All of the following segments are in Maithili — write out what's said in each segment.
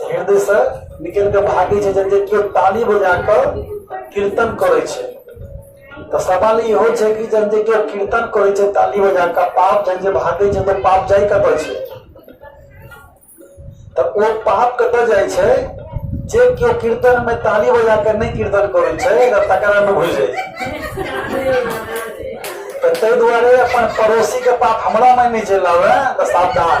हृदयसँ निकलि कऽ भागै छै जे केओ ताली बजा कऽ कीर्तन करै छै तऽ सवाल इहो छै कि जब जे केओ कीर्तन करै छै ताली बजा कऽ पाप जब जे भागै छै तऽ पाप जाइ कतऽ छै तऽ ओ पाप कतऽ जाइ छै जे केओ कीर्तन में ताली बजा कऽ नहि कीर्तन करै छै तऽ तकरा में घुसि जाइ छै तऽ ताहि दुआरे अपन पड़ोसी के पाप हमरा में नहि चलि आबे तऽ सावधान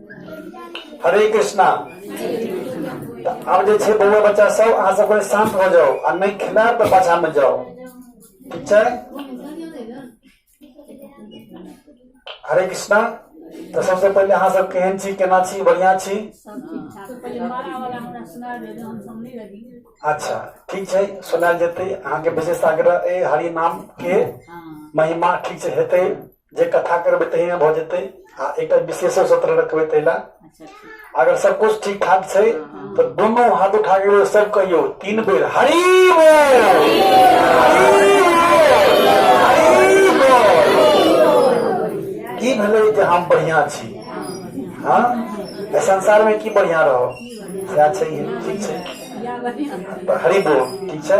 हरे कृष्णा आब जे छै बौआ बच्चा सब अहाँ सब कनि शांत भऽ जाउ आ नहि खेलायब तऽ पाछा मे जाउ ठीक छै हरे कृष्णा तऽ सबसे पहिले अहाँ सब केहन छी केना छी बढ़िया छी अच्छा ठीक छै सुनायल जेतै अहाँके विशेष आग्रह अइ हरि नाम के महिमा ठीक छै हेतै जे कथा करबै तहिना भऽ जेतै आ एकटा विशेष सत्र रखबै ताहि लए अच्छा ठीक अगर सब कुछ ठीक ठाक छै तऽ दुनू हाथ उठा के एगो सब कहियो तीन बेर हरि बोल हरि बोल, हरि बोल। की भेलै जे हम बढ़िया छी हाँ एहि संसार में की बढ़िया रहो सएह छै ये, ठीक छै तऽ हरि बोल ठीक छै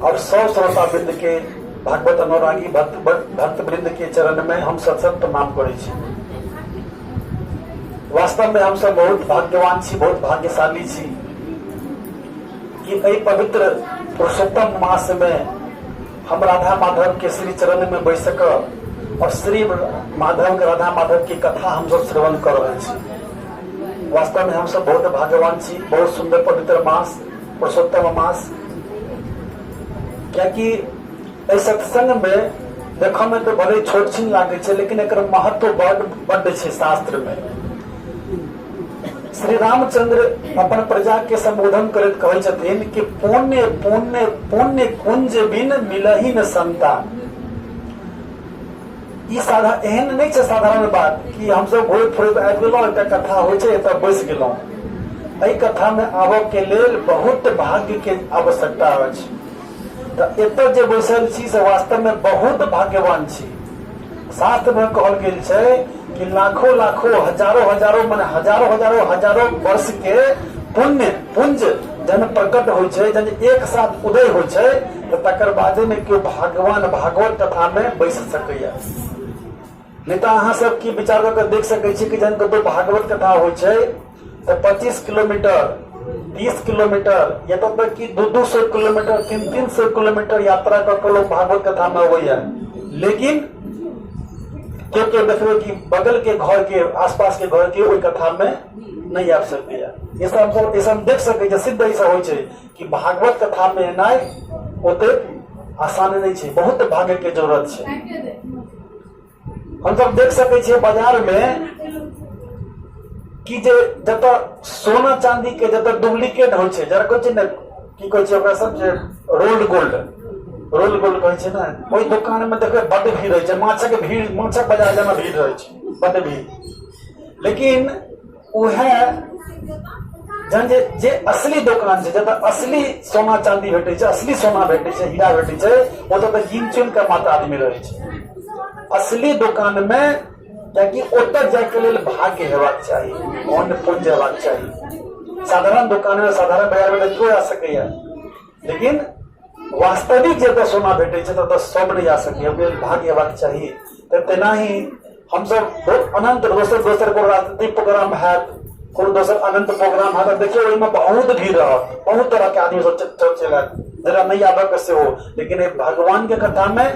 और सौ श्रोता वृंद के भागवत अनुरागी भक्त भक्त वृंद के चरण में हम सत सत प्रणाम करे छी वास्तव में हम सब बहुत भाग्यवान छी बहुत भाग्यशाली छी कि एहि पवित्र पुरुषोत्तम मास में हम राधा माधव के श्री चरण में बैस सक और श्री माधव के राधा माधव की कथा हम सब श्रवण कर रहे छी वास्तव में हम सब बहुत भाग्यवान छी बहुत सुंदर पवित्र मास पुरुषोत्तम मास कियाकि एहि सत्संग मे देखऽ मे तऽ भले छोट छीन लागै छै लेकिन एकर महत्व बड बड छै शास्त्र मे श्री रामचंद्र अपन प्रजा के संबोधन करैत कहै छथिन कि पुण्य पुण्य पुण्य कुंज बिन मिलही न संतान ई साधा एहन नहि छै साधारण बात कि हमसभ घुरैत फुरैत आबि गेलहुँ एकटा कथा होइ छै एतऽ बैस गेलहुँ एहि कथामे आबऽ के लेल बहुत भाग्य के आवश्यकता अछि तऽ एतऽ जे बैसल छी से वास्तवमे बहुत भाग्यवान छी शास्त्रमे कहल गेल छै कि लाखो लाखो हजारो हजारो मने हजारो हजारो हजारो वर्ष के पुण्य पुंज जन प्रकट होइ छै जन एक साथ उदय होइ छै तऽ तकर बादे ने केओ भगवान भागवत कथामे बैस सकैए नहि तऽ अहाँ सब की विचार कऽ के देख सकैत छी कि जहन कतहु भागवत कथा होइ छै तऽ पच्चीस किलोमीटर तीस किलोमीटर या तब तक कि दू दू सौ किलोमीटर तीन तीन सौ किलोमीटर यात्रा कऽ के लोग भागवत कथा में अबैया लेकिन के के देखबे कि बगल के घर के आसपास के घर के ओहि कथा में नहीं आबि सकैया ऐसा हम ऐसा हम देख सकै छै सिद्ध ऐसा होइ छै कि भागवत कथामे एनाइ ओतेक आसान नहि छै बहुत भाग्यके जरूरत छै हमसभ देख सकैत छियै बाजारमे कि जे जतऽ सोना चांदीके जतऽ डुप्लीकेट होइ छै जरा कहै छै ने की कहै छै ओकरा सब जे रोल्ड गोल्ड रोल गोल कहै छै ने ओहि दोकान मे देखबै बड्ड भीड़ रहै छै माछक भीड़ माछक बाजार जेना भीड़ रहै छै बड्ड भीड़ लेकिन ओ है जहन जे जे असली दोकान छै जतऽ असली सोना चांदी भेटै छै असली सोना भेटै छै हीरा भेटै छै ओतऽ तऽ गिन चुन के मात्र आदमी रहै छै असली दोकान मे कियाकि ओतऽ जायके लेल भाग्य हेबाक चाही मोन पुण्य हेबाक चाही साधारण दोकान मे साधारण बाजार मे तऽ केओ आ सकैया लेकिन वास्तविक जतऽ सोना भेटै छै ततऽ सब नहि जा सकैए मेल भाग्य हेबाक चाही तऽ तेनाही हमसब बहुत अनंत दोसर दोसर कोनो राजनीतिक प्रोग्राम हैत कोनो दोसर अनंत प्रोग्राम हैत देखियौ ओहिमे बहुत भीड़ रहत बहुत तरहके आदमी सब चलि आयत जकरा नहि आबयके सेहो लेकिन एहि भगवानके कथामे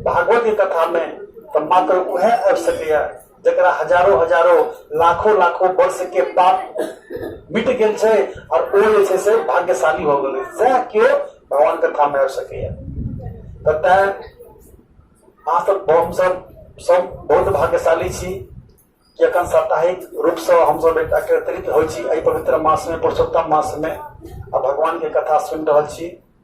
भागवतके कथामे तऽ मात्र उएह आबि सकैए जकरा हजारो हजारो लाखो लाखो वर्ष के पाप मिट गेल छै और ओ जे छै से भाग्यशाली हो गेलै सएह केओ भगवान के थाम में आबि सकैया तऽ तैं अहाँ सब हमसब सब बहुत भाग्यशाली छी कि अखन साप्ताहिक रूप से हमसब एकटा एकत्रित होइ छी एहि पवित्र मास में पुरुषोत्तम मास में आ भगवान के कथा सुनि रहल छी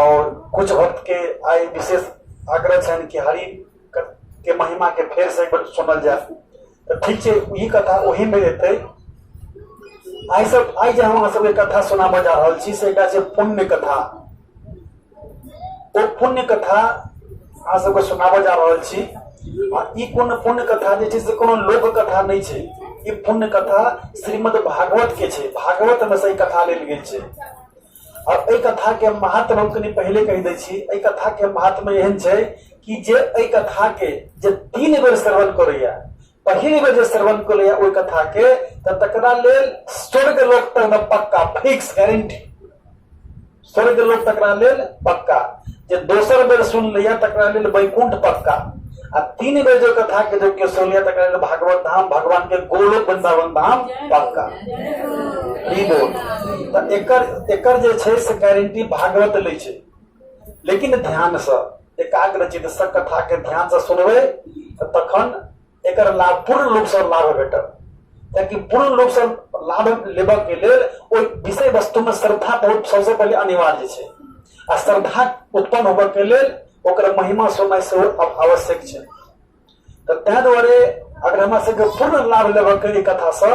और कुछ भक्त के आई विशेष आग्रह छनि कि हरि क- के महिमा के फेर से एक बेर सुनल जाए तो ठीक छै ई कथा ओही में एतै आइ सब आइ जे हम अहाँ सबके कथा सुनाबऽ जा रहल छी से एकटा छै पुण्य कथा ओ पुण्य कथा अहाँ सबके सुनाबऽ जा रहल छी आ ई कोनो पुण्य कथा जे छै से कोनो लोक कथा नहि छै ई पुण्य कथा श्रीमद् भागवत के छै भागवत में से ई कथा लेल गेल छै आओर एहि कथाके महात्म हम कनि पहिले कहि दै छी एहि कथाके महात्म एहन छै कि जे एहि कथाके जे तीन बेर श्रवण करैया पहिल बेर जे श्रवण करैया ओहि कथाके तऽ तकरा लेल स्वर्ग लोक तकमे पक्का फिक्स गारंटी स्वर्ग लोक तकरा लेल पक्का जे दोसर बेर सुन लैया तकरा लेल वैकुंठ पक्का आ तीन बेर जो कथा के जो के सुनिया तक कहल भागवत धाम भगवान के गोलोक वृंदावन धाम पक्का ई बोल त एकर एकर जे छै से गारंटी भागवत लै छै लेकिन ध्यान से एकाग्र चित्त से कथा के ध्यान से सुनबै त तखन एकर लाभ पूर्ण रूप से लाभ भेटत कियाकि पूर्ण रूप से लाभ लेबऽ के लेल ओहि विषय वस्तु में श्रद्धा बहुत सबसे पहले अनिवार्य छै आ श्रद्धा उत्पन्न होबऽ के लेल ओकर महिमा समय सेहो आवश्यक छै तऽ ताहि दुआरे अगर हमरा सबके पूर्ण लाभ लेबऽ के कथा सऽ